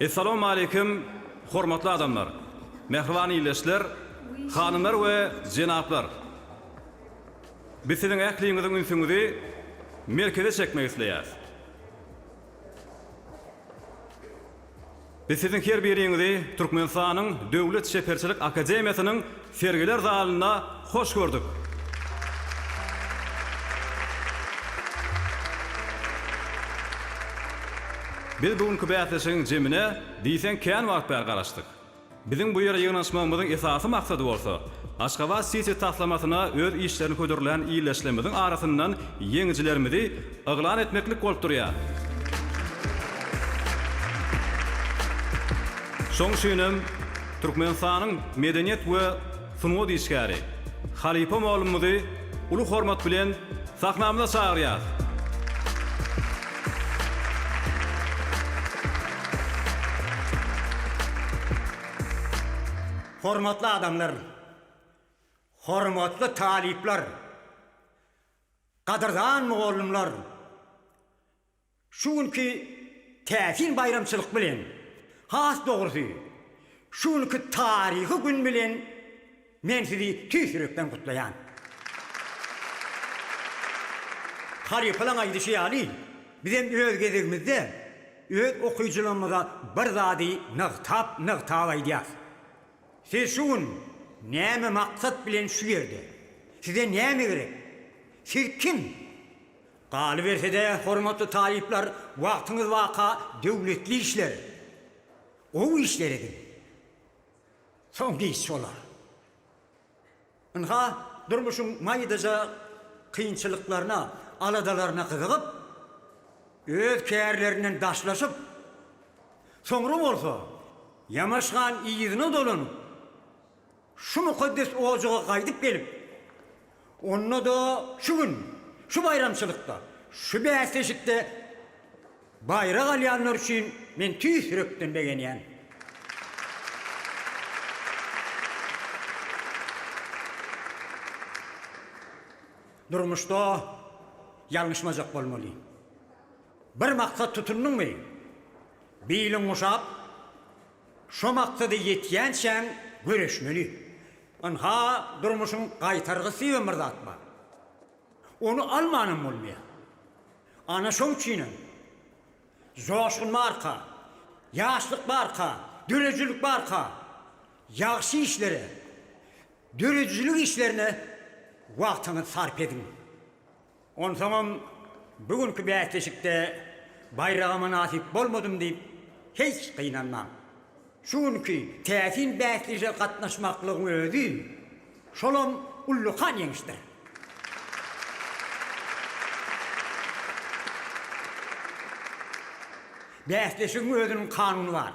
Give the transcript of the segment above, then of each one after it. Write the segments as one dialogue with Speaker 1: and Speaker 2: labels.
Speaker 1: Essalamu aleýkum hormatly adamlar, mähriban ildeşler, hanymlar we jenaplar! Biz siziň ähliňiziň ünsüňizi merkeze çekmek isleýäris. Biz siziň her biriňizi Türkmenistanyň Döwlet çeperçilik akademiýasynyň Sergiler zalynda hoş gördük. Biz bu günki bäsleşigiň jemine diýseň kän wagt bäri garaşdyk. Biziň bu ýere ýygnanyşmagymyzyň esasy maksady bolsa, Aşgabat City taslamasyna öz işlerini hödürlän ildeşlerimiziň arasyndan ýeňijilerimizi Yglan etmeklik bolup durýar. Şoň üçin hem Türkmenistanyň medeniýet we sungat işgäri halypa mugallymymyzy uly hormat bilen sahnamyza çagyrýarys. Hormatly adamlar! Hormatly talyplar! Gadyrdan mugallymlar! Şu günki täsin baýramçylyk bilen, has dogrusy, şu günki taryhy gün bilen men sizi tüýs ýürekden gutlaýan. Halypalaň aýdyşy ýaly, bizem öz gezegimizde öz okyjylarymyza bir zady nygtap-nygtap aýdýarys. Siz şu gün näme maksat bilen şu ýerde? Size näme gerek? Siz kim? Galyberse-de, hormatly talyplar, wagtyňyz baka döwletli işler, gowy işler ediň. Soňky iş bolar. Ynha, durmuşyň maýdaja kynçylyklaryna, aladalaryna gyzygyp, öz kärlerinden daşlaşyp, soňra bolsa Ýamaş han yzyna dolanyp, şu mukaddes ojaga gaýdyp gelip, onda-da şu gün, şu baýramçylykda, şu bäsleşikde. Baýrak alýanlar üçin men tüýs ýürekden begenýän. Durmuşda ýalňyşmajak bolmaly. Bir maksat tutundyňmy, biliň guşap, şo maksada ýetýänçäň göreşmeli. Ynha, durmuşyň gaýtargysy diýen bir zat bar. Ony almanam bolmaýar. Ana şoň üçinem, joşgun barka, ýaşlyk barka, döredijilik barka, ýagşy işlere, döredijilik işlerine wagtyňyzy sarp ediň. Onsoňam bu günki bäsleşikde baýraga mynasyp bolmadym diýip hiç gynanmaň. Şu günki täsin bäsleşige gatnaşmaklygyň özi şolam ullakan ýeňişdir. Bäsleşigiň özüniň kanuny bar.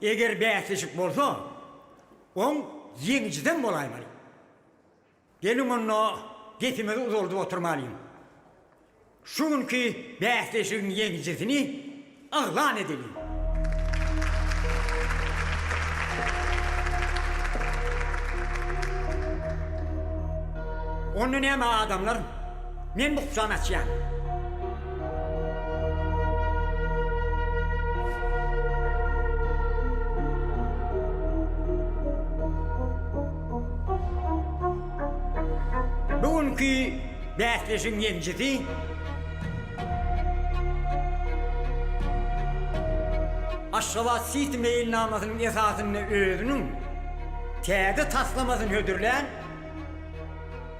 Speaker 1: Eger bäsleşik bolsa, oň ýeňijisem bolaýmaly. Geliň onda gepimizi uzaldyp oturmalyň. Şu günki bäsleşigiň ýeňijisini yglan edeliň. Onda näme adamlar? Men bu kuçany açýan. Bu günki bäsleşigiň ýeňjisi Aşgabat City meýilnamasynyň esasynda özüniň täze taslamasyny hödürlän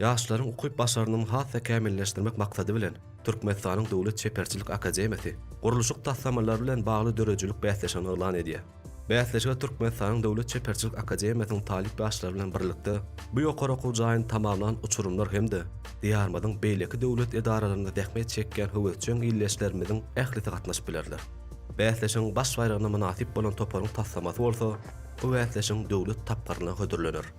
Speaker 1: Ýaşlaryň ukyp-başarnygyny has-da kämilleşdirmek maksady bilen, Türkmenistanyň Döwlet çeperçilik akademiýasy gurluşyk taslamalary bilen bagly döredijilik bäsleşigini yglan edýär. Bäsleşige Türkmenistanyň Döwlet çeperçilik akademiýasynyň talyp ýaşlary bilen birlikde, bu ýokary okuw jaýyny tamamlan uçurymlar hem-de Diýarymyzyň beýleki döwlet edaralarynda zähmet çekýän höwesjeň ildeşlerimiziň ählisi gatnaşyp bilerler. Bäsleşigiň baş baýragyna mynasyp bolan toparyň taslamasy bolsa bu bäsleşigiň döwlet tapgyryna hödürlener.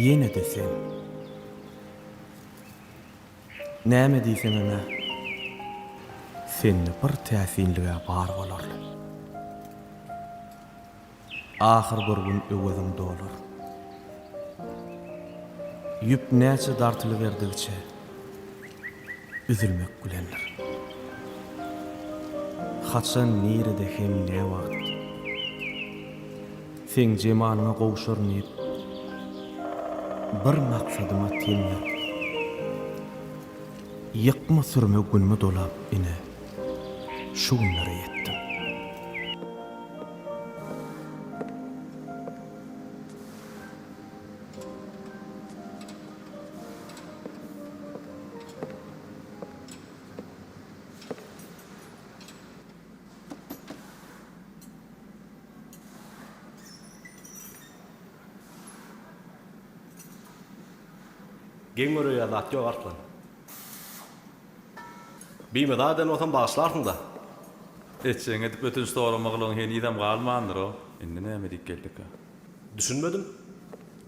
Speaker 1: Ýene-de sen. Näme diýseňem-ä, sende bir täsinlig-ä bar bolarly. Ahyr bir gün öweziň dolar. Ýüp näçe dartylyberdigiçe üzülmek bilendir. Haçan, nirede hem näwagt Seň jemalyňa gowşaryn diýip Bir maksadyma ten berip. Ýykma sürme günmi dolap ine şu günlere ýetdim. Geň göräýýä zat ýok Arslan. Bimyza eden bolsam bagyşlarsyňda. Etjegiňi edip ötünç sorama gylygyň henizem galmandyro. Indi näme diýip geldika. Düşünmedim.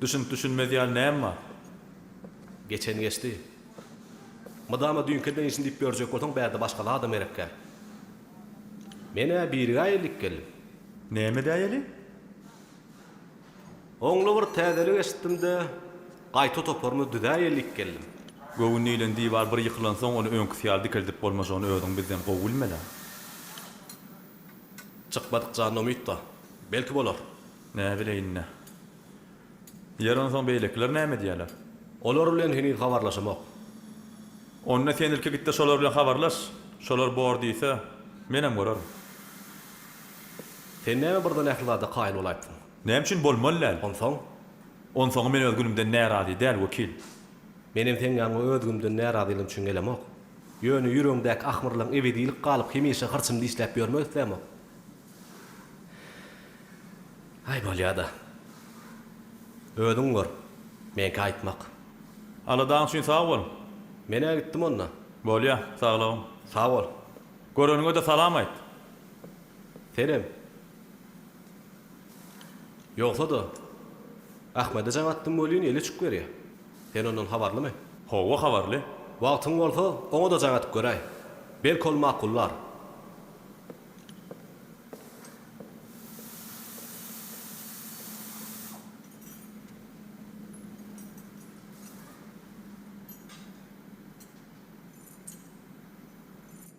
Speaker 1: Düşünip düşünmez ýaly näme bar. Geçeni geçdi. Mydama düýnki eden işini diýip ýörjek bolsaň bärde başga zadam gerekkä. Men-ä birigä ellik geldim. Näme däýeli? Oňly bir täzelik eşitdim-de, gaýta toparymy düzäýeli diýip geldim. Göwün diýlen diwar bir ýykylansoň, ony öňküsi ýaly dikeldip bolmajagyny özüň bizden gowy bilmeli-ä. Çykmadyk janyna umyt-da. Belki bolar. Näbileýin-dä. Ýeri onsoň beýlekiler näme edýärler? Olar bilen heniz habarlaşamok. Onda sen ilki git-de şolar bilen habarlaş. Şolar bor diýse, menem görerin. Sen näme birden ähli zada kaýyl bolaýypsyň? Näme üçin bolmaly däl? Onsoň? Onsoňam men öz günümden närazy däl, wekil. Menem seň ýanyňa öz günümden närazylygyň üçin gelemok. Ýöne ýüregiňdäki ahmyrlygyň ebedilik galyp hemişe hyrçyny dişläp ýörmek islämok. Aý, bolýa-da. Özüň gör. Meňki aýtmak. Aladaň üçin sag bol. Men-ä gitdim onda. Bolýa, saglygyň. Sag bol. Göreniňe-de salam aýt. Senem. Ýogsa-da, Ahmede jaň atdym welin, eli uçup gelýä. Sen ondan habarlymy? Hawa, habarly. Wagtyň bolsa, oňa-da jaň atyp göräý. Belki ol makullar.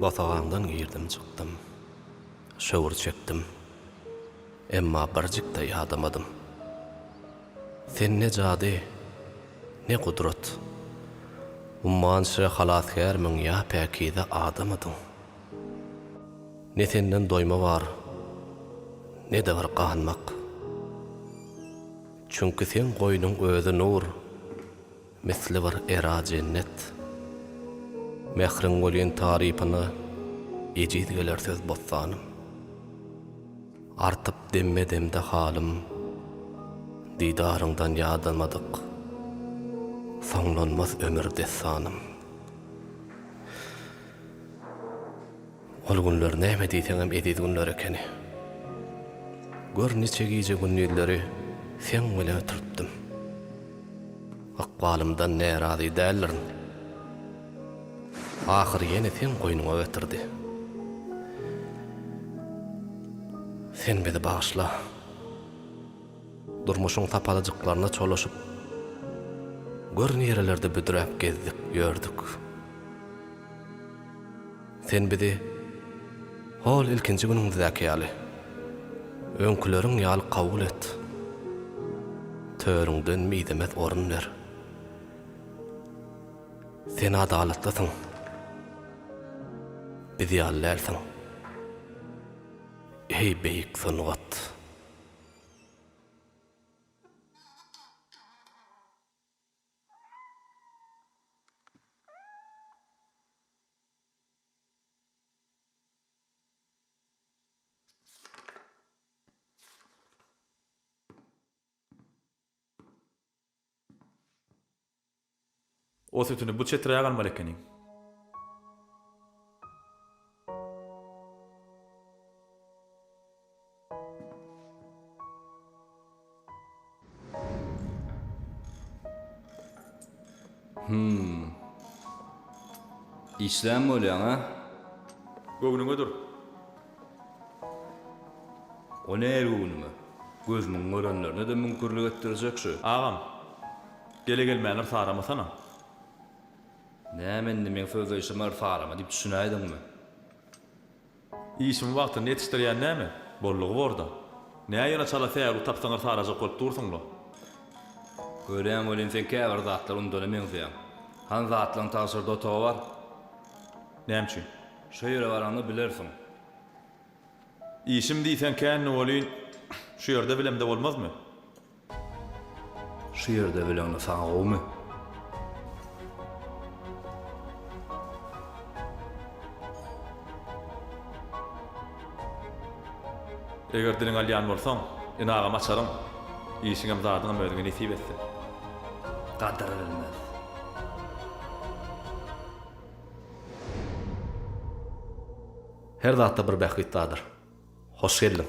Speaker 1: Bosagaňdan girdim çykdym. Şöwür çekdim. Emma birjik-de ýadamadym. Sen ne jady, ne gudrat. Ummança halasgärmiň ýa päkize adamydyň. Ne senden doýma bar, ne-de bir ganmak. Çünki seň goýnuň özi nur, misli bir era jennet. Mähriň welin tarypyna, ejiz geler söz bossanym. Artyp demme-demde halym, didaryňdan ýadamadyk, soňlanmaz ömür dessanym. Ol günler näme diýseňem eziz günler ekeni. Gör niçe gije-gündizleri seň bilen ötüripdim. Ykbalymdan närazy däldirin. Ahyry ýene seň goýnuňa getirdi. Sen bizi bagyşla. Durmuşyň sapalyjyklaryna çolaşyp, gör nirelerde büdräp gezdik, ýördük. Sen bizi hol ilkinji günüňizdäki ýaly, öňküleriň ýaly kabul et. Törüňden mizemez orun ber. Sen adalatlysyň. Biz ýaly dälsiň. Eý beýik sungat! O sütüni bu çeträk almaly ekeniň. Hum. Işlän bolýaň a? Göwnüňe dur. O ne göwnüme? Gözümiň görenlerine-de müňkürlik etdirjek şu. Agam. Gele-gelmändir saramasana. Näme indi, meň sözleýşime yrsalama diýip düşünäýdiňmi? Işiňi wagtynda ýetişdirýän näme? Boldugy bor-da. Nä ýene çala säwlik tapsaň yrsalajak bolup dursuň-la? Görýän welin sen käbir zatlar unudana meňzeýäň. Han zatlaň tagşyrda otagy bar. Näme üçin? Şo ýere baraňda bilersiň. Işim diýseň känni welin, şu ýerde bilemde bolmazmy? Şu ýerde bileňde saňa gowmy? Eger diliňi alýan bolsaň, ine agam açaryň. Işiňem zadyňam özüňe nesip etsin. Gadyr bilmez. Her zatda bir bähbit bardyr. Hoş geldiň.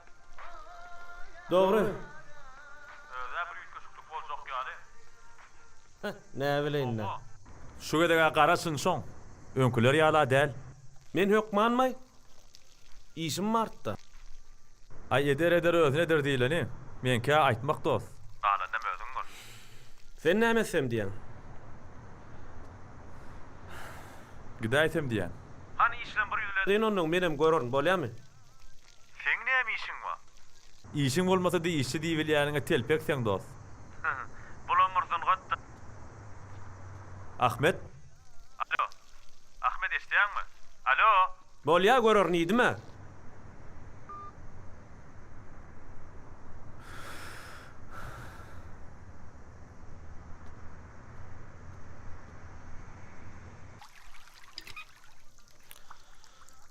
Speaker 1: Dogry. Özä bir üýtgeşiklik boljak ýaly. Heh, näbileýin-dä. Şu gezeg-ä garaşyn şoň. Öňküler ýala däl. Men hökmanmy? Işim bar-da. Aý, eder, eder, özüne eder diýleni. Meňkä aýtmak dost. Galanynam özüň gör. Sen näme etsem diýýäň? Gidäýsem diýýän. Hany işlem bir ýüzledi. Gyn onnoň, menem görerin, bolýamy? Seň näme işiň bar? Işiň bolmasa-da işçi diýibilýäniňe telpek seň dost. Bulam bir sungat-da. Ahmet. Alo. Ahmet eşidýäňmi? Alo. Bolýa görerin iýdim-ä.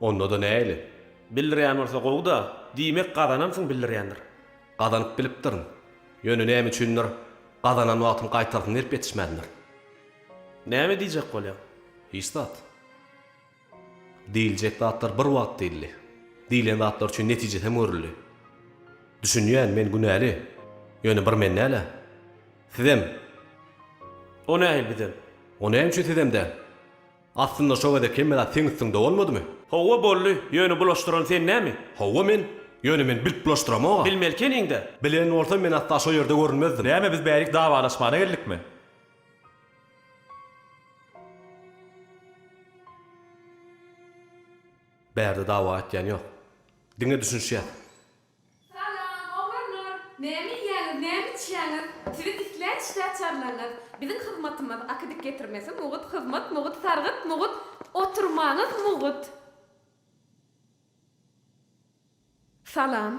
Speaker 1: Onda-da näili? Bildirýän bolsa gowy-da, diýmek gazanansyň bildirýändir. Gazanyp bilipdirin. Ýöne näme üçindir, gazanan wagtym gaýtarsyny berip ýetişmändir. Näme diýjek bolýaň? Hiç zat. Diýiljek zatlar bir wagt diýildi. Diýlen zatlar üçin netije hem görüldi. Düşünýän, men günäli. Ýöne bir men däl-ä. Sizem. O nähili bizem? O näme üçin sizem däl? Aslynda şo gezek hemmedat seň üstüňde bolmadymy? Hawa boldy, ýöne bulaşdyran sen näme? Hawa men, ýöne men bilip bulaşdyramog-a. Bilmeli keniň-dä. Bilen bolsam men asla şo ýerde görünmezdim. Näme biz bärik dawalaşmana geldikmi? Bärde dawa etýän ýok. Diňe düşünişýäs. Salam oglanlar! Näme iýýäňiz, näme içýäňiz? Sizi dislän işde açarlaňyz. Biziň hyzmatymyz akydyk getirmesi mugut, hyzmat mugut, sargyt mugut, oturmaňyz mugut. Salam.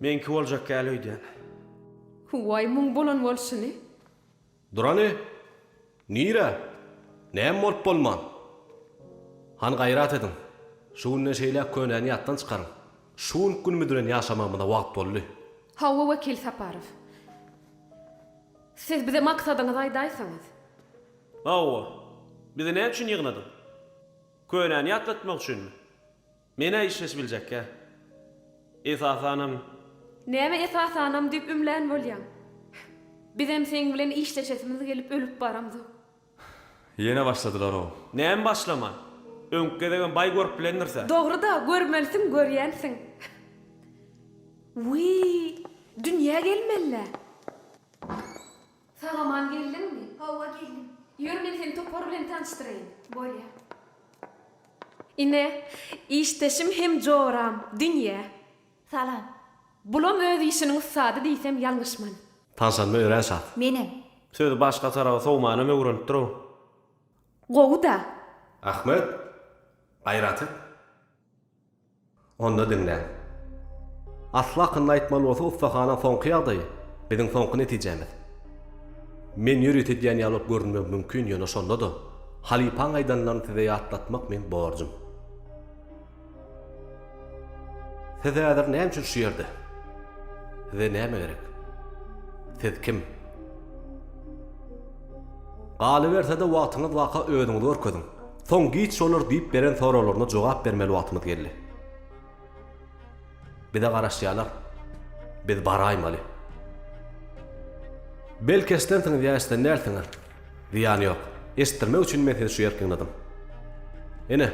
Speaker 1: Meňki boljak gel öýdýän. Hüwway muň bolan bolşuny. Durany, nirä? Näme bolup bolman? Hany gaýrat ediň, şu günden şeýläk könäni ýatdan çykaryň. Şu günki gün müdürän ýaşamagymyza wagt boldy. Hawa, wekil Saparow. Siz bize maksadyňyzy aýdaýsaňyz. Hawa. Bizi näme üçin ýygnadyň? Könäni ýatlatmak üçinmi? Men-ä işleş biljekkä. Esasanam. Näme esasanam diýip ümlän bolýaň? Bizem seň bilen işleşesimiz gelip ölüp baramzok. Ýene başladylar-ow. Näme başlaman? Öňki gezegem baý görüp bilendirsä. Dogry-da, görmelisiň, görýänsiň. Wiý, dünýä gelmeli-le. Sag-aman geldiňmi? Hawa, geldim. Ýör, men seni topar bilen tanyşdyraýyn. Bolýa. Ine, işdeşim hem joram, Dünýe. Salam. Bulam öz işiniň ussady diýsem ýalňyşman. Tanyşanyma örän şat. Menem. Sözi başga tarawa sowmanam öwrenipdir-ow. Gowy-da. Ahmet, gaýraty. Onda diňläň. Asly hakynda aýtmaly bolsa ussahana soňky ýagdaýy biziň soňky netijämiz. Men ýörite edýän ýaly görünmegi mümkin ýöne şonda-da halypaň aýdanlaryny size ýatlatmak meň borjum. Siz häzir näme üçin şu ýerde? Size näme gerek? Siz kim? Galyberse-de wagtyňyz baka özüňizi görkeziň. Soň giç şolar diýip beren soraglaryna jogap bermeli wagtymyz geldi. Bize garaşýarlar. Biz baraýmaly. Belki eşidensiňiz ýa eşiden dälsiňiz. Zyýany ýok. Eşitdirmek üçin men sizi şu ýer ýygnadym. Ine,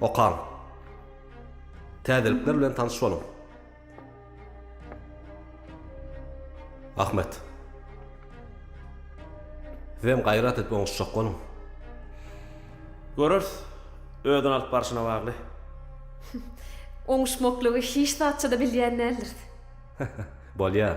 Speaker 1: okaň. Täzelikler bilen tanyş boluň. Ahmet. Sizem gaýrat edip oňuşjak boluň. Göreris. Özüni alyp barşyna bagly. Oňuşmaklygy hiç zatça-da bilýän däldiris. Bolýar.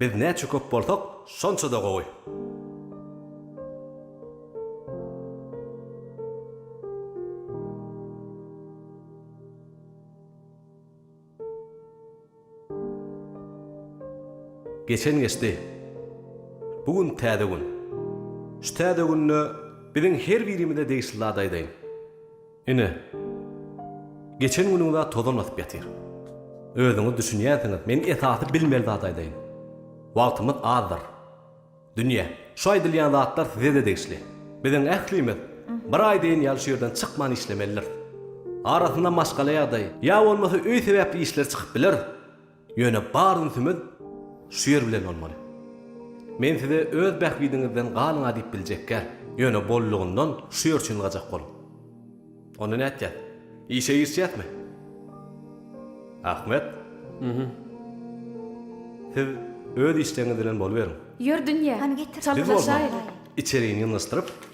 Speaker 1: Biz näçe köp bolsak, şonça-da gowy. Geçen geçdi. Bu gün täze gün. Şu täze günde biziň her birimize degişli zady aýdaýyn. Ine, geçen günüňiz-ä tozan basyp ýatyr. Özüňiz düşünýänsiňiz, men esasy bilmeli zady aýdaýyn. Wagtymyz azdyr. Dünýe, şu aýdylýan zatlar size-de degişli. Biziň ählimiz bir aý deýin ýaly şu ýerden çykman işlemelidiris. Arasynda maşgala ýagdaýy, ýa bolmasa öý sebäpli işler çykyp biler. Ýöne bar ünsümiz şu ýer bilen bolmaly. Men size öz bähbidiňizden galyň-a diýip biljekgär, ýöne bollugyndan şu ýer çyngajak boluň. Onda nätjäs? Işe girişýäsmi? Ahmet. Ýhym. Siz öz işleriňiz bilen boluberiň. Ýör dünýe, çalylaşaýyl. Biz bolsa içerini ýyňyşdyryp,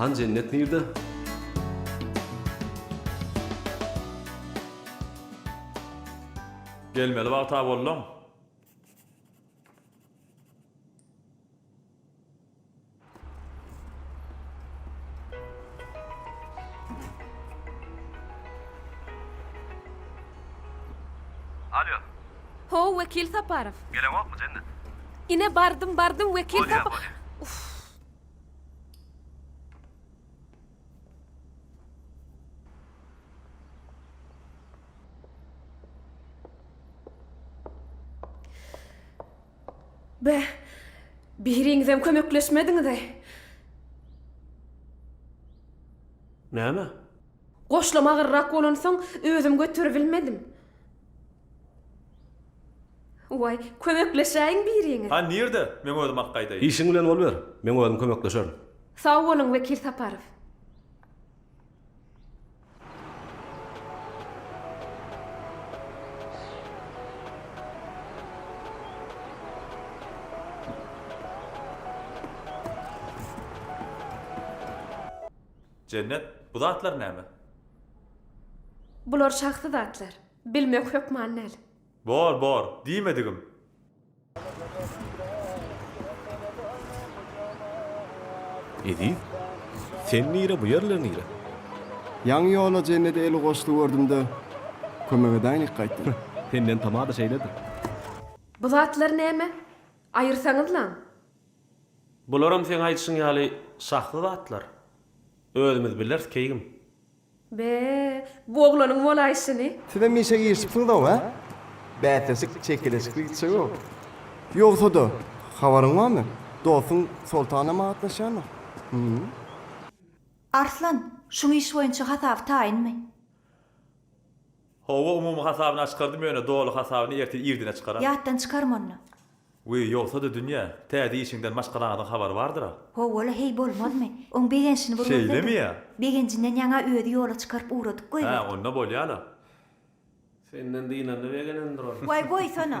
Speaker 1: Han jennet nirde? Gelmeli wagta bolduň. Alýo. Ho-o, Wekil Saparow. Geleňokmy, Jennet? Ine, bardym, bardym, Wekil Sapa-. Bolýa, bolýa. Uff. Beh, biriňizem kömekleşmediňiz-eý! Näme? Goşlam agyrrak bolansoň, özüm göteribilmedim. Waý, kömekleşäýiň biriňiz! Ha, nirde? Men özüm ak gaýdaýyn. Işiň bilen boluber, men özüm kömekleşerin. Sag boluň, Wekil Saparow! Jennet, bu zatlar näme? Bular şahsy zatlar. Bilmek hökman däl. Bor, bor, diýmedigim. Eziz, sen nire, bu ýerler nire? Ýaňy ýola Jennede eli goşdy gördüm-de, kömek edäýnik gaýtdym. Senden tamada şeýledir. Bu zatlar näme? Aýyrsaňyzlaň! Bularam seň aýdyşyň ýaly şahsy zatlar. Özümiz bileris, keýgim. Be-e, bu oglanyň bolaýşyny. Sizem işe girişipsiňiz-ow, hä? Bäsleşik çekeleşikli gitjeg-ow. Ýogsa-da, habaryň barmy, dostuň Soltan hem atlaşýandyr? Hum. Arslan, şuň iş boýunça hasaby taýynmy? Howwa umumy hasabyny açkardym ýöne doly hasabyny ertir irdine çykaram. Ýatdan çykarma onda. Wiý ýogsada dünýä, täze işiňden maşgalaňyzyň habary bardyra. Howwala heý bolmazmy. Oň begenşini bir görsedim. Şeýlemi ýa. Begenjinden ýaňa özi ýola çykaryp ugradyk goý Hä wagt. onda bolýala. Senden dynanda begenendir ol. Waý goýsana.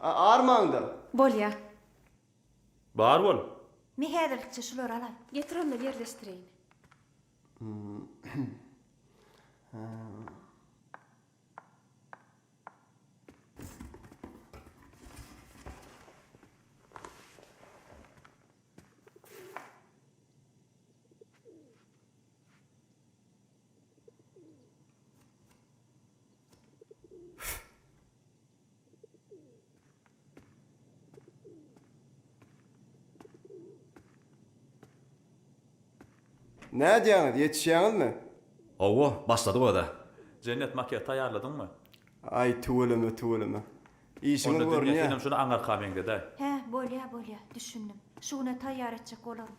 Speaker 1: Armaňda. Bolýa. Bar bol. Me häzirlikçe şulary alaý. Getir onda ýerleşdireýin. Nädýäňiz, ýetişýäňizmi? Hawa, başladyk özä. Jennet, makiýaj taýýarladyňmy? Aý, tüweleme, tüweleme. Işiňiz Onda dünýe, senem şuny aňarka meňzedäý. Hä, bolýa, bolýa, düşündim. Şu güne taýýar etjek bolaryn.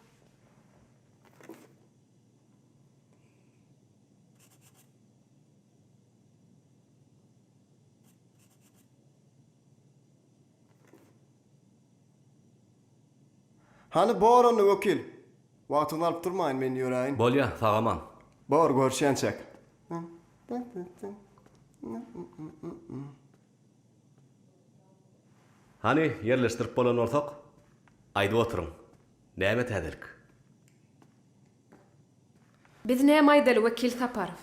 Speaker 1: Hany bor onda wekil. Wagtyňy alyp durmaýyn men ýöräýin. Bolýa, sagaman. Bor, görüşýänçäk. Hany ýerleşdirip bolan bolsak, aýdyp oturyň. Näme täzelik? Biz näme aýdaly Wekil Saparow?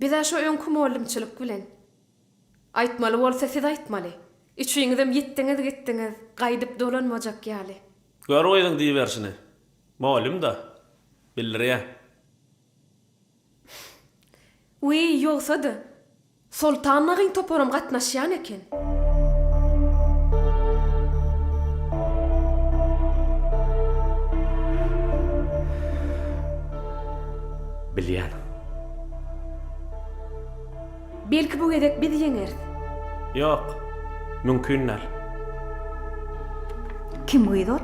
Speaker 1: Biz-ä şo öňki mugallymçylyk bilen. Aýtmaly bolsa siz aýtmaly. Üçiňizem ýitdiňiz gitdiňiz, gaýdyp dolanmajak ýaly. Gör gyzyň diýiberşini. Mugallym-da. Bildirýä. Wiý, ýogsa-da, Soltan nagyň toparam gatnaşýan eken. Bilýän. Belki bu gezek biz ýeňeris. Ýok, mümkin däl. Kim gyz ol?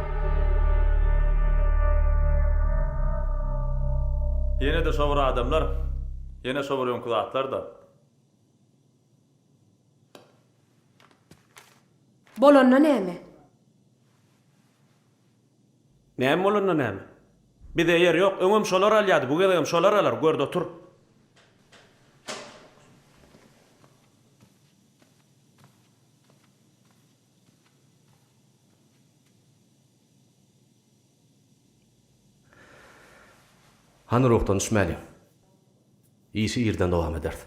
Speaker 1: Ýene-de şo bir adamlar, ýene şo bir öňki zatlar-da. Bolanda näme? Näme bolanda näme? Bize ýer ýok. Öňem şolar alýardy, bu gezegem şolar alar, gör-de otur. Hany ruhdan düşmäliň. Işi irden dowam ederis.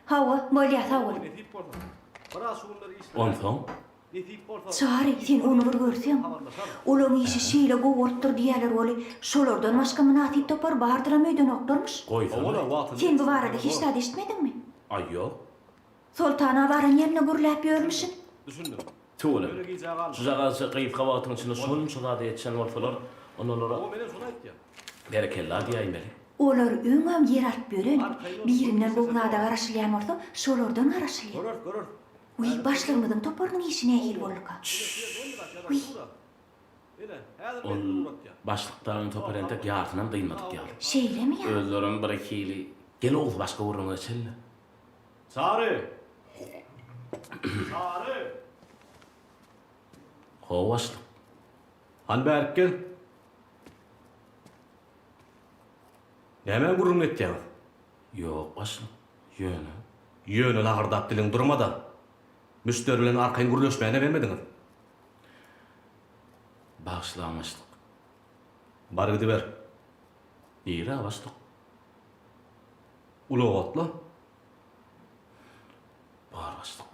Speaker 1: Hawa, bolýa, sag bol. Nesip bolsa, biraz şu günler işleräýin. Onsoň? Nesip bolsa. Çary, sen ony bir görseň. Olaň işi şeýle gowy bolupdyr diýýäler weli, şolardan başga mynasyp topar bardyram öýdenoklarmyş. Goýsana. Sen bu barada hiç zat eşitmediňmi? Aý, ýok. Soltana baran ýerine gürläp ýörmüşin. Düşündim. Tüweleme. Şujagazça gysga wagtyň içinde şonça zady etişen bolsalar, onda olara Hawa, men hem şony aýtýan. Berekella diýäýmeli. Olar öňem ýer alyp ýören, birinden gowy zada garaşylýan bolsa, şolardan garaşylýar. Göreris, göreris. Wiý, başlygymyzyň toparynyň işi nähili bolduka? Çşşşş. Wiý. Ine, häzir meni Ol ugratýar. başlykdagyň topary entek ýarysynam dynmadyk ýaly. Şeýlemi ýa? Özlerem birhili. Gel Oguz, başga gürrüňe geçeli-le. Sary! Sary! Ho, başlyk. Hany bärik gel. Nämä gürrüň etýäňiz? Ýok, başlyk. Ýöne. Ýöne lagyrdap diliň durma-da. Müşderi bilen arkaýyn gürleşmäne bermediňiz. Bagyşlaň, başlyk. Bar gidiber. Nirä, başlyk? Ulagatla bar başlyk.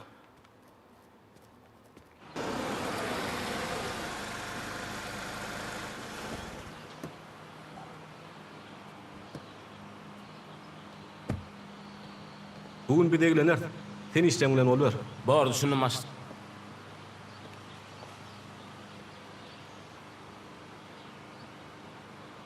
Speaker 1: Bu gün biz egleneris. Sen işjeň bilen boluber. Bar, düşündim başlyk.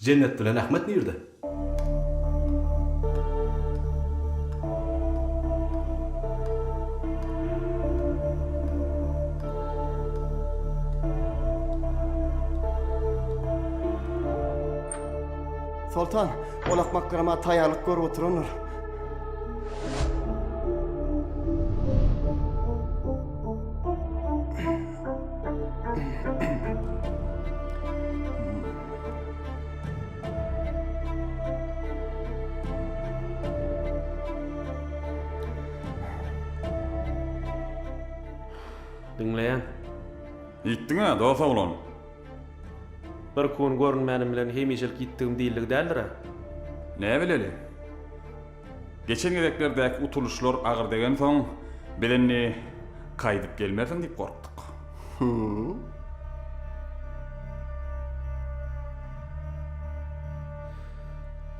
Speaker 1: Jennet bilen Ahmet nirde? Soltan, ol akmaklarama taýýarlyk görüp oturandyr. Diňleýän. Ýitdiň-ä, dost oglan. Bir kun görünmänim bilen hemişelik ýitdigim diýildigi däldir-ä? Näbileli. Geçen gezeklerdäki utulyşlar agyr degensoň, biz indi gaýdyp gelmersiň diýip gorkduk. Hü-ü-ü.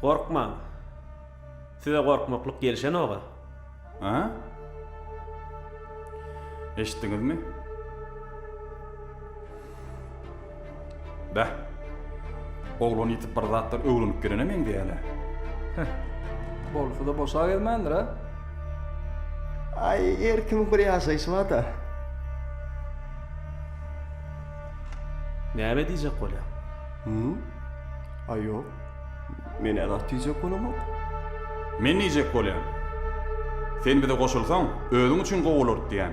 Speaker 1: Gorkmaň. Size gorkmaklyk gelişenok-a. A? Eşitdiňizmi? Beh. Oglan ýitip bir zatlar öwrenip gelene meňzeýäne. Heh. Bolsa-da boşa gezmändir-ä. Aý, her kimiň bir ýaşaýşy bar-da. Näme diýjek bolýaň? Hum? Aý, ýok. Men-ä zat diýjek bolamok. Men diýjek bolýan. Sen bize goşulsaň, özüň üçin gowy bolardy diýýän.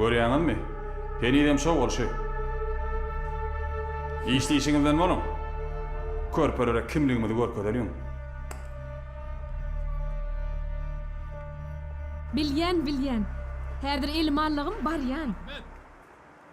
Speaker 1: Görýäňizmi? Henizem şo bolşy. Işleýşiňizden boluň. Körpelere kimligimizi görkezeliň. Bilýän, bilýän. Häzir elim allagym barýan.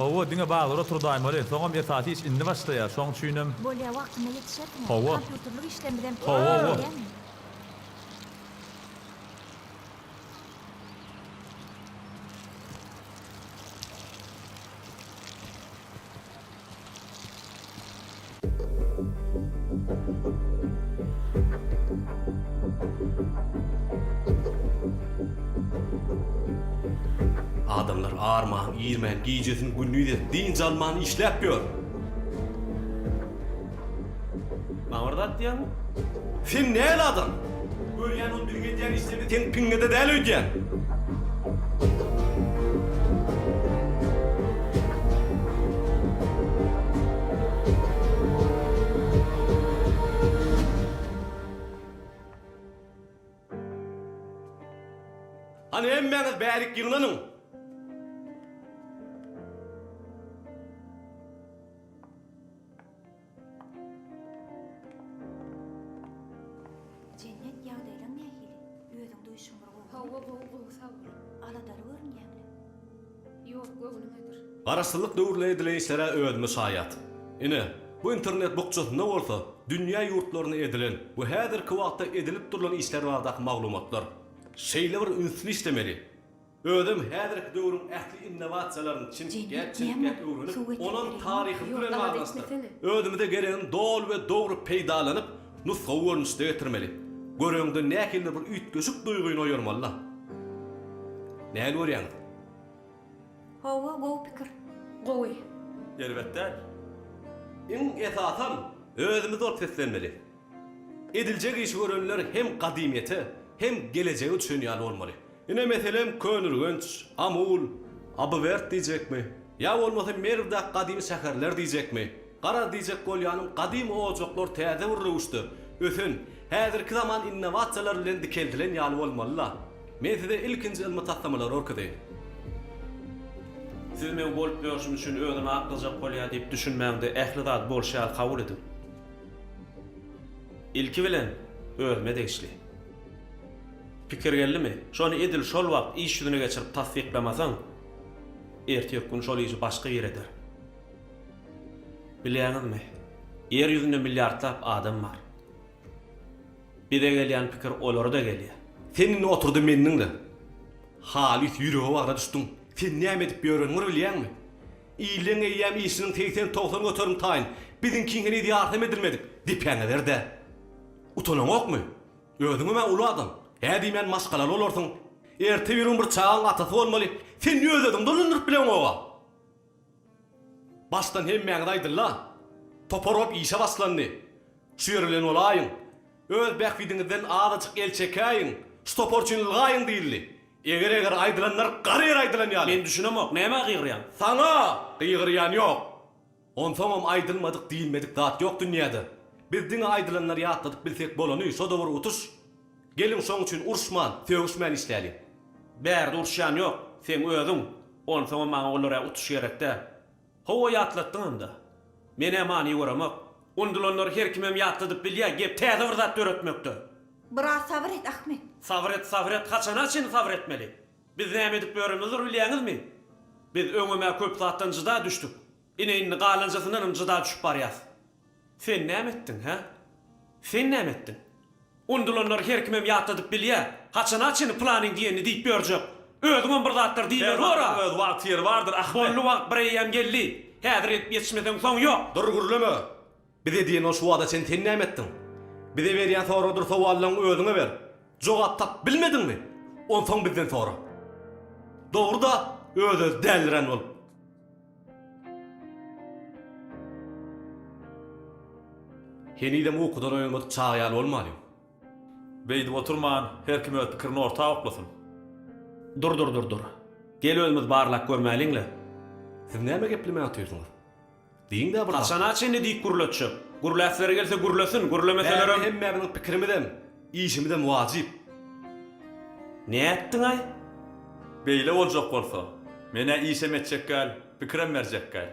Speaker 1: Hawa, diňe bazara turdaýmaly. Soňam esasy iş indi başlaýar. Şoň üçinem. Bolýa, wagtynda ýetişersiňiz. Hawa. Kompýuterlik işden bizem pul Hawa, hawa. gelýämi? Adamlar arman-irmän gijesini gündiz edip dynç alman işläp ýör. Maňa bir zat diýýäňmi? Sen näl adam? Görýän ol biziň edýän işlerimiz seň piňňide däl öýdýän. Hany hemmäňiz bärik ýygnanyň. Jennet, ýagdaýlaň nähili? Özüň duýşuň bir gowy. Hawa, gowy, gowy, sag bol. Aladaly görünýäň-le? Ýok, göwnümedir. Garaşsyzlyk döwründe edilen işlere özümi şaýat. Ine, bu internet bukjasynda bolsa dünýä ýurtlarynda edilen we häzirki wagtda edilip durlan işler baradaky maglumatlar. Şeýle bir ünsli işlemeli. Özem häzirki döwrüň ähli innowasiýalaryny çinkgäp çinkgäp öwrenip, onam taryhym bilen baglanyşdyryp, özümize geregini doly we dogry peýdalanyp, nusgawy görnüşde getirmeli. Göreňde nähili bir üýtgeşik duýgyny oýarmaly-la. Nähili görýäňiz? Hawa, gowy pikir. Gowy. Erbet däl. Iň esasam, özümiz bolup seslenmeli. Ediljek işi görenler hem gadymyýete, hem gelejege düşünýän bolmaly. Ine, meselem, Könürgenç, Amul, Abywerk diýjekmi? Ýa bolmasa Merwdäki gadymy şäherler diýjekmi? Garaz, diýjek bolýanym, gadymy ojaklar täze bir röwüşde, ösen, häzirki zaman innowasiýalary bilen dikeldilen ýaly bolmaly-la. Men size ilkinji ylmy taslamalary görkezeýin. Siz meň bolup ýörşüm üçin özüni aklajak bolýar diýip düşünmäň-de, ähli zady bolşy ýaly kabul ediň. Ilki bilen, özüme degişli. Pikir geldimi? Şony edil şol wagt iş ýüzüne geçirip tassyklamasaň, ertirki gün şol işi başga bir eder. Bilýäňizmi, Ýer ýüzünde milliardlap adam bar. Bize gelýän pikir olara-da gelýär. Sen indi otur-da meni diňle. Halys ýürege bagra düşdüň. Sen näme edip ýöreniňi bir bilýäňmi? Illeň eýýäm işiniň segsen-togsan göterim taýyn, biziňkiň heniz ýartam edilmedik. Depäňe ber-dä. Utanaňokmy? Özüňem-ä uly adam. Hä diýmän maşgalaly bolarsyň. Erte bir gün bir çagaň atasy bolmaly. Sen öz-özüňi dolandyryp bileňok-a. Başdan hemmäňiz aýdyň-la. Topar bolup işe başlandy. Şu ýer bilen bolaýyň. Öz bähbidiňizden azajyk el çekäýiň. Şu topar üçin ylgaýyň diýildi. Eger-eger aýdylanlar gara ýere aýdylan ýaly. Men düşünemok, nämä gygyrýaň? Saňa! Gygyrýan ýok. Onsoňam aýdylmadyk diýilmedik zat ýok dünýäde. Biz diňe aýdylanlary ýatladyp bilsek bolany şo dowur utuş. Geliň şoň üçin uruşman, sögüşmän işläliň. Bärde uruşýan ýok, seň özüň. Onsoňam maňa olar-ä utuş gerek däl. Hawa ýatlatdyňam-da. Men-ä many göremok. Undulanlary her kimem ýatladyp bilýä, gep täze bir zat döretmekde. Biraz sabyr et Ahmet. Sabyr et, sabyr et, haçana çyn sabyr etmeli? Biz näme edip ýörenizdir bilýäňizmi? Biz öňem-ä köp zatdan jyda düşdük. Ine, indi galanjasyndanam jyda düşüp barýas. Sen näme etdiň, hä? Sen näme etdiň? Unudylanlary her kimem ýatladyp bilýä. Haçana çenli planyň diýenini diýip ýörjek? Özüňem bir zatlar diýiberibor-a! Her zatdan öz wagty-ýeri bardyr, Ahmet! Boldy, wagt bireýýäm geldi. Häzir edip ýetişmeseň, soň ýok! Dur, gürleme! Bize diýen ol şu wagta çen sen näme etdiň? Bize berýän soradyr sowallaryňy özüňe ber. Jogap tapyp bilmediňmi? Onsoň bizden sora. Dogry-da, öz-özi dälirän bolup. Henizem ukudan oýanmadyk çaga ýaly bolmalyň. Beýdip oturman, her kim öz pikirini orta oklasyn. Dur-dur-dur-dur. Gel özümiz barlap görmäliň-le. Siz näme geplemän otyrsyňyz? Diýiň-dä bir. Haçana çenli diýip gürletjek? Gürläsleri gelse gürlesin, gürlemeselerem. Bärde hemmämiziň pikirimizem, işimizem wajyp. Nätdiň-aý? Beýle boljak bolsa, men-ä işem etjekgäl, pikirem berjekgäl.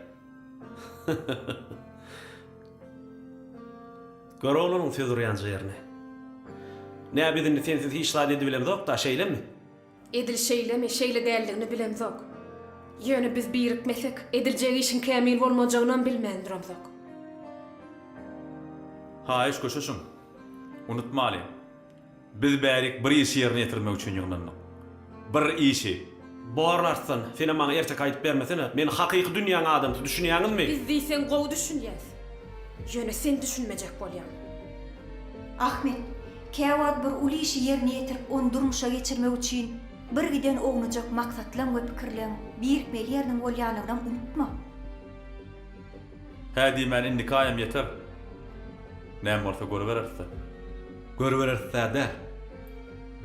Speaker 1: Gör oglanyň söz urýan jerini. Nä biz indi sensiz hiç zat edibilemzok-da, şeýlemi? Edil şeýlemi, şeýle däldigini bilemzok. Ýöne biz birikmesek, ediljek işiň kämil bolmajagynam bilmän duramzok. Haýyş köşeşiň. Unutmalyň, biz bärik bir işi ýerine ýetirmek üçin ýygnandyk. Bir işi. Bor artsan, senem maňa ertek aýdyp bermesene. Men hakyky dünýäň adamsy, düşünýäňizmi? Biz diýseň gowy düşünýäs. Ýöne sen düşünmejek bolýaň. Ahmet, Käwagt bir uly işi ýerine ýetirip ony durmuşa geçirmek üçin birgiden ownujak maksatlaň we pikirleň birikmeli ýeriniň bolýanynam unutma. Hä diýmän indiki aýam ýeter. Näme bolsa görübereris-dä. Görübereris-dä däl.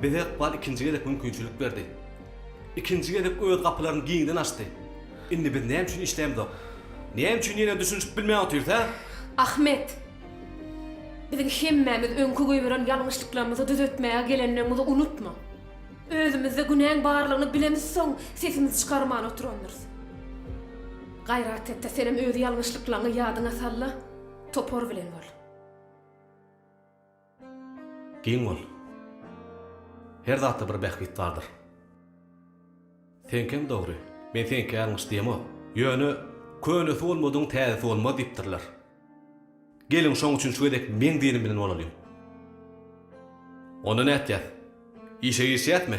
Speaker 1: Bize ykbal ikinji gezek mümkinçilik berdi. Ikinji gezek öz gapylaryny giňden açdy. Indi biz näme üçin işlämzok? Näme üçin ýene düşünişip bilmän otyrys, hä? Ahmet! Biziň hemmämiz öňki goýberen ýalňyşlyklarymyzy düzetmäge gelenligimizi unutma. Özümizde günäň barlygyny bilemizsoň, sesimizi çykarman oturandyrys. Gaýrat et-de, senem öz ýalňyşlyklaryňy ýadyňa sal-da, topar bilen bol. Giň bol. Her zatda bir bähbit bardyr. Seňkem dogry. Men seňki ýalňyş diýemok. Ýöne, Könesi bolmadygyň täzesi bolmaz diýipdirler. Geliň, şoň üçin şu gezek meň diýenim bilen bolalyň. Onda nätýäs? Işe girişýäsmi?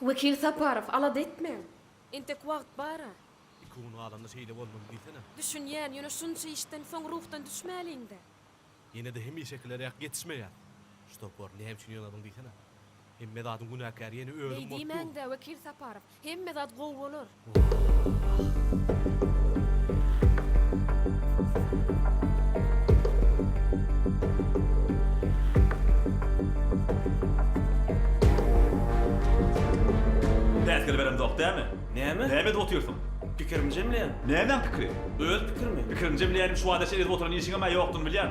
Speaker 1: Wekil Saparow, alada etmäň. Entek wagt bar-a. Iki gün galanda şeýle bolmaly diýsene. Düşünýän, ýöne şunça işden soň ruhdan düşmäliň-dä. Ýene-de hemişekileräk ýetişmeýär. Şu topar, näme üçin ýygnadyň diýsene. Hemme zadyň günäkäri ýene özüm bolup dur. Beýdimäň-dä, Wekil Saparow. Hemme zat gowy bolar. Päsgel beremzok dämi? Näme? Näme edip otyrsyň? Pikirimi jemleýän. Nämäň pikiri? Öz pikirimi. Pikiriňi jemleýänim şu wagtaça edip oturan işiňem-ä ýokdugyny bilýän.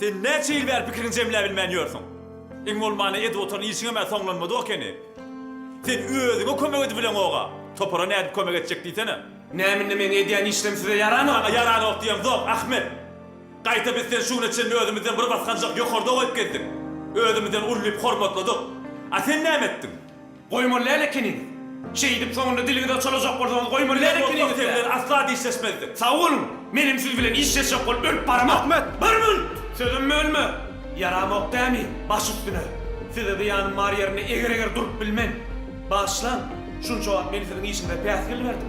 Speaker 1: Sen näçe ýyl bäri pikiriňi jemläbilmän ýörsüň? Iň bolmanda edwotoň işiňem-ä soňlanmady okeni. Sen özüňe kömek edibileňog-a, topara nädip kömek etjek diýsene? Näme indi meň edýän işlerim size ýaramy? Maňa ýaranok diýemzok, Ahmet. Gaýta biz seni şu güne çenli özümizden bir basganjak ýokarda goýup gezdik. Özümizden ullyp hormatladyk. A sen näme etdiň? Goýmaly däl ekeniňiz. Şeýdip soňunda diliňizi çalajak bolsaňyz goýmaly däl ekeniňiz-dä. Biz bolsak sen bilen asla dişleşmezdik. Sag boluň. Men hem siz bilen işleşjek bolup ölüp baramok. Ahmet! Bir münt! Sözüm bölme! Ýaramok dämi? Baş üstüne. Size zyýanym bar ýerinde eger-eger durup bilmen. Bagyşlaň. Şunça wagt men siziň işiňize päsgel berdim.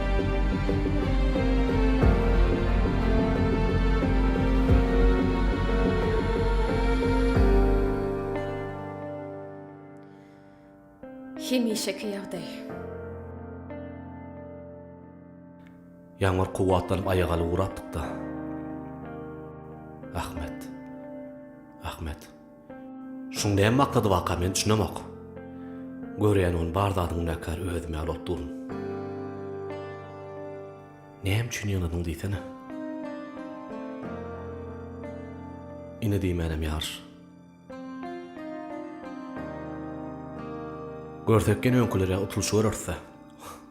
Speaker 1: Hemişeki ýagdaý. Ýaňyr kuwwatlanyp aýagaly ugrapdyk-da. Ahmet. Ahmet. Şuň näme maksady waka men düşünemok. Görýän ony bar zadyň günäkär özüm ýaly bolup durun. Näme üçin ýygnadyň diýsene. Ine diýmänem ýar. Görsek ýene öňkülere utulyşy görerse.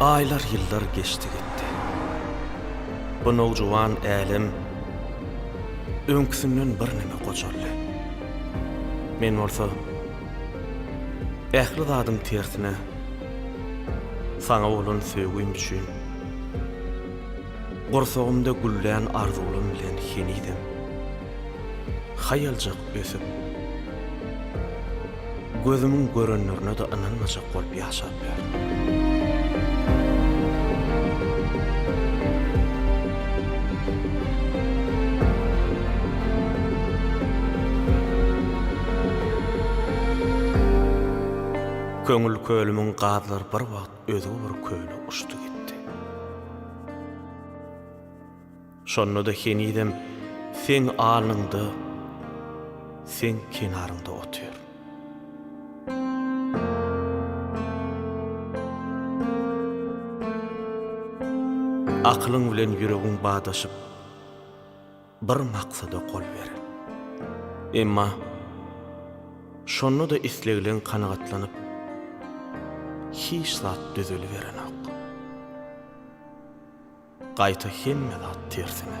Speaker 1: Aýlar ýyllar geçdi gitdi. Bu nowjuwan älem öňküsinden birneme gojaldy. Men bolsa ähli zadyň tersine saňa bolan söýgim üçin. Gursagymda güllän arzuwlam bilen henizem haýaljak ösüp, gözümiň görenlerine-de ynanmajak bolup ýaşap ýörün. Köňül kölümiň gazlary bir wagt özi bir köne uçdy gitdi. Şonda-da henizem seň alnyňda, seň kenaryňda otyr. Akylyň bilen ýüregiň badaşyp. Bir maksada gol beren. Emma şonda-da islegleň kanagatlanyp, hiç zat düzeliberenok. Gaýta hemme zat tersine.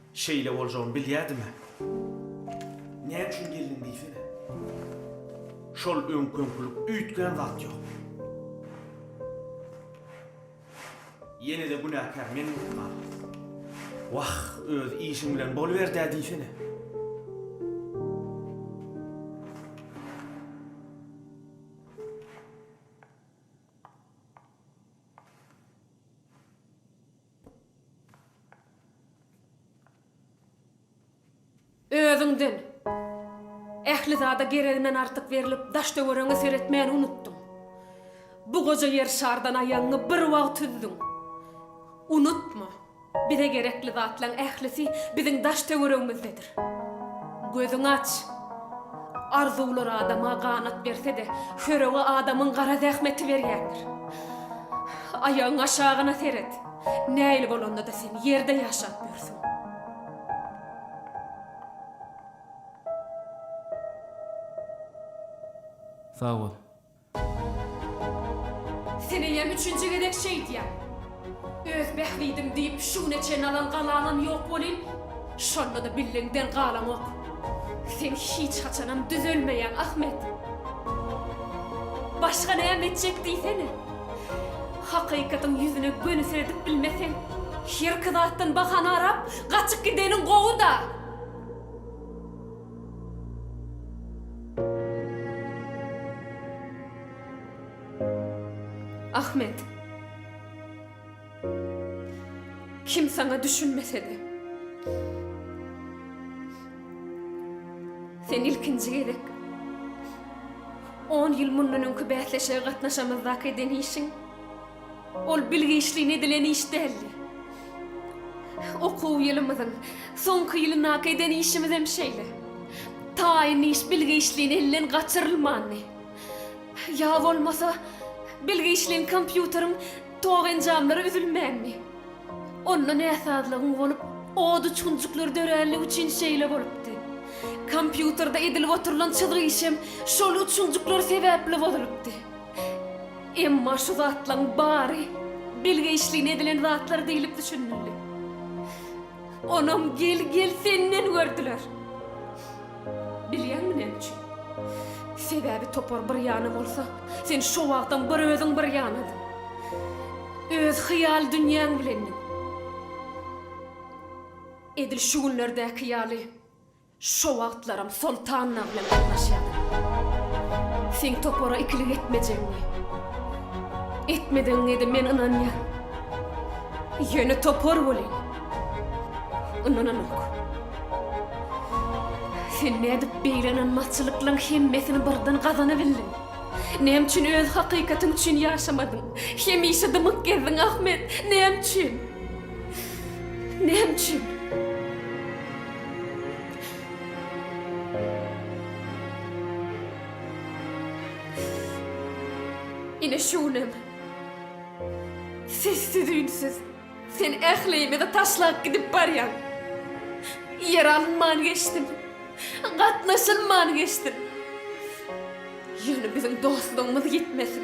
Speaker 1: Şeýle boljagyny bilýädim-ä. Näme üçin geldiň diýsene. Şol öňküňkilik üýtgän zat ýok. Ýene-de günäkär men bolup galdym. Wah, öz işiň bilen boluberdi-ä diýsene. Özüňden, ähli zada gereginden artyk berlip, daş-töweregiňe seretmäni unutdyň. Bu goja ýer şardan aýagyňy bir wagt üzdüň. Unutma, bize gerekli zatlaň ählisi biziň daş-töweregimizdedir. Gözüňi aç! Arzuwlar adama ganat berse-de, hörege adamyň gara zähmeti berýändir. Aýagyň aşagyna seret! Näil bolanda-da sen ýerde ýaşap ýörsüň. Sag bol. Seneýem üçünji gezek şeýdýän. Öz bähbidim diýip şu güne çenli alan galaňam ýok welin, şonda-da billeňden galaňok. Sen hiç haçanam düzelmeýäň, Ahmet. Başga näme etjek diýsene. Hakykatyň ýüzüne göni seredip bilmeseň, hir-ki zatdan bahana arap, gaçyp gideniň gowy-da. Ahmet. Kim saňa düşünmese-de. Sen ilkinji gezek on ýyl mundan öňki bäsleşige gatnaşamyzdaky eden işiň. Ol bilgiçligiň edilen iş däldi. Okuw ýylymyzyň soňky ýylyndaky eden işimizem şeýle. Taýyn iş bilgiçligiň elden gaçyrylmandy. Ýa bolmasa, bilgiçligiň kompýuteriň tok enjamlary üzülmändi. Onda näsazlygyň bolup, od uçgunjyklar döränligi üçin şeýle bolupdy. Kompýuterde edilip oturylan çyzgy işem şol uçgunjyklar sebäpli bozulypdy. Emma şu zatlaryň bary bilgeişligine edilen zatlar diýlip düşünildi. Onam gel, gel senden gördüler. Bilýäňmi näme üçin? Sebäbi topar bir ýana bolsa, sen şo wagtam bir özüň bir ýanadyň. Öz hyýal dünýäň bilendiň. Edil şu günlerdäki ýaly. Şo wagtlaram Soltanna bilen gatnaşýardy. Seň topara ikilik etmejegiňi, etmedegiňede men ynanýaryn. Ýöne topar welin, ynananok. Sen nädip beýle ynanmazçylyklaň hemmesini birden gazanybildiň? Näme üçin öz hakykatyň üçin ýaşamadyň? Hemişe dymyp gezdiň, Ahmet! Näme üçin? Näme üçin? Ine şu günem sessiz-üýnsüz sen ählimizi taşlap gidip barýaň. Ýer alynman geçdim. Gatnaşylman geçdim. Ýöne biziň dostlugymyz ýitmesin.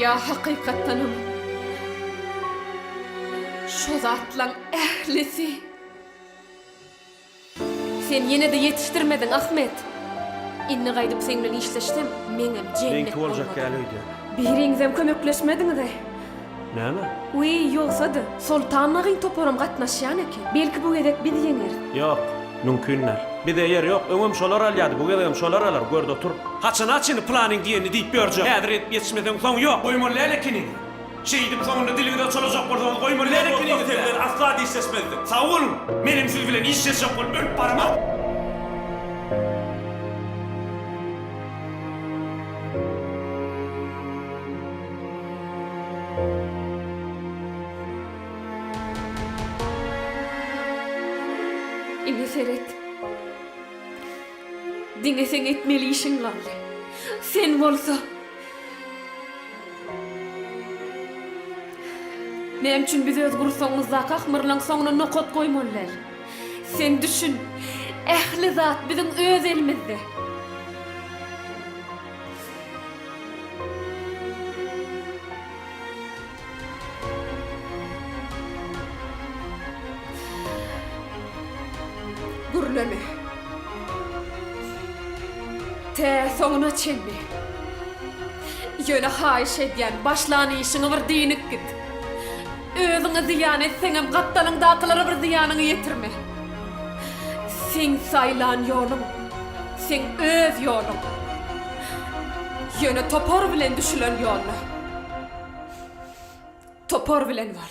Speaker 1: Ýa hakykatdanam şo zatlaň ählisi? Sen ýene-de ýetişdirmediň, Ahmet! Indi gaýdyp seň bilen işleşsem, meňem jennet bolmady. Biriňizem kömekleşmediňiz-eý! Näme? Wiý, ýogsa-da, Soltan nagyň toparam gatnaşýan eken. Belki bu gezek biz ýeňeris. Ýok, mümkin däl. Bize ýer ýok. Öňem şolar alýardy, bu gezegem şolar alar, görde otur. Haçana çyn planyň diýenini diýip ýörjek. Häzir edip ýetişmeseň, soň ýok. Goýmaly däl ekeniňiz. Şeýdip, soňunda diliňizi açalajak bolsaňyz, goýmaly däl ekeniňiz-dä. Ýok, dostlar, sen bilen asla dişleşmezdim. Sag boluň! Menem siz bilen işleşjek bolup ölüp baraman. Ine seret. Diňe seň etmeli işiň galdy. Sen bolsa Näme üçin biz öz gursagymyzdaky ahmyrlaň soňuna nokat goýmaly däl? Sen düşün, ähli zat biziň öz elimizde. Gürleme. Tä soňuna çenli. Ýöne haýyş edýän, başlan işiňi bir dynip git. Özüňe zyýan etseňem gapdalyňdakylara bir zyýanyňy ýetirme. Seň saýlan ýoluň, seň öz ýoluň. Ýöne topar bilen düşülen ýolda topar bilen bar.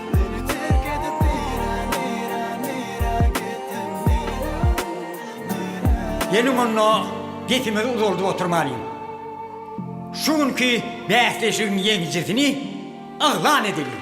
Speaker 1: Meni terk edip nirä nirä nirä gitdiň nirä nirä. Geliň onda gesimizi uzaldyp oturmalyň. Şu günki bäsleşigiň ýeňijisini yglan edeliň.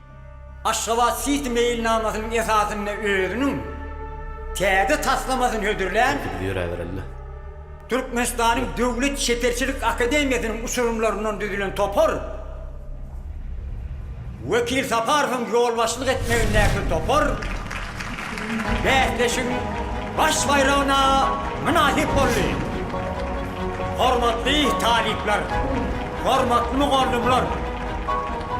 Speaker 1: Aşgabat Siti meýilnamasynyň esasynda özüniň täze taslamasyny hödürlän, Türkmenistanyň Döwlet çeperçilik akademiýasynyň uçurymlaryndan düzülen topar, Wekil Saparowyň ýolbaşçylyk etmegindäki topar bäsleşigiň baş baýragyna mynasyp boldy. Hormatly talyplar, hormatly mugallymlar!